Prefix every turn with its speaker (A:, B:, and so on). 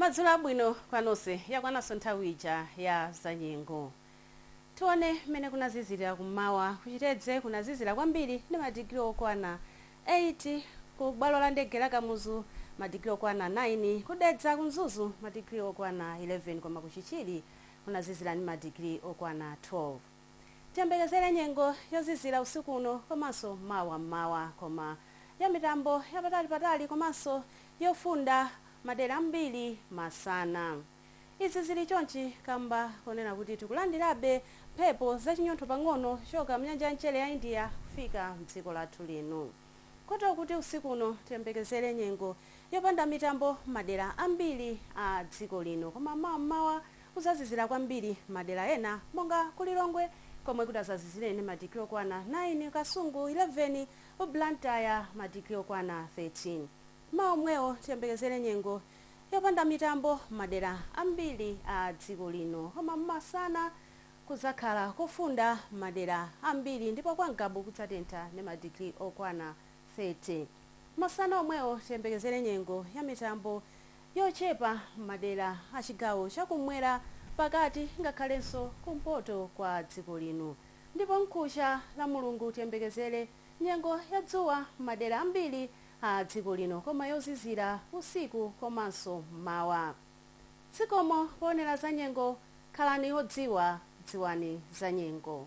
A: madzulo abwino kwanonse yakwananso nthawi ija ya zanyengo tione mmene kunazizirira kummawa ku chitedze kunazizira kwambiri ndi madigiri okwana 8 ku bwalo la ndege la kamuzu madigiri okwana 9 ku dedza ku mzuzu madigiri okwana 11 koma ku chichiri kunazizira ndi madigiri okwana 12 Tiyembekezere nyengo yozizira usiku uno komanso mawa m'mawa koma ya mitambo yapatalipatali komanso yofunda madera ambiri masana. Izi zili chonchi kamba koonera kuti tikulandirabe mphepo zachinyontho pang'ono kuchoka mnyanja ya mchere ya India kufika mdziko lathu lino. Kotero kuti usiku uno tiyembekezere nyengo yopanda mitambo mmadera ambiri a dziko lino koma mawa mmawa kuzazizira kwambiri mmadera ena monga ku Lilongwe komwe kutazazizire ndi madigiri okwana 9, Kasungu 11, Blantyre madigiri okwana 13. Mmawa omwewo tiyembekezere nyengo yopanda mitambo mmadera ambiri a dziko lino koma masana Kudzakhala kofunda m'madera ambiri ndipo kwa Ngabu kudzatentha ndi madigiri okwana 30. Masana omwewo tiyembekezere nyengo ya mitambo yochepa m'madera a chigawo cha kummwera, pakati ngakhalenso kumpoto kwa dziko lino. Ndipo mkucha Lamulungu tiyembekezere nyengo ya dzuwa m'madera ambiri a dziko lino koma yozizira usiku komanso m'mawa. Zikomo poonera zanyengo, khalani odziwa, dziwani zanyengo.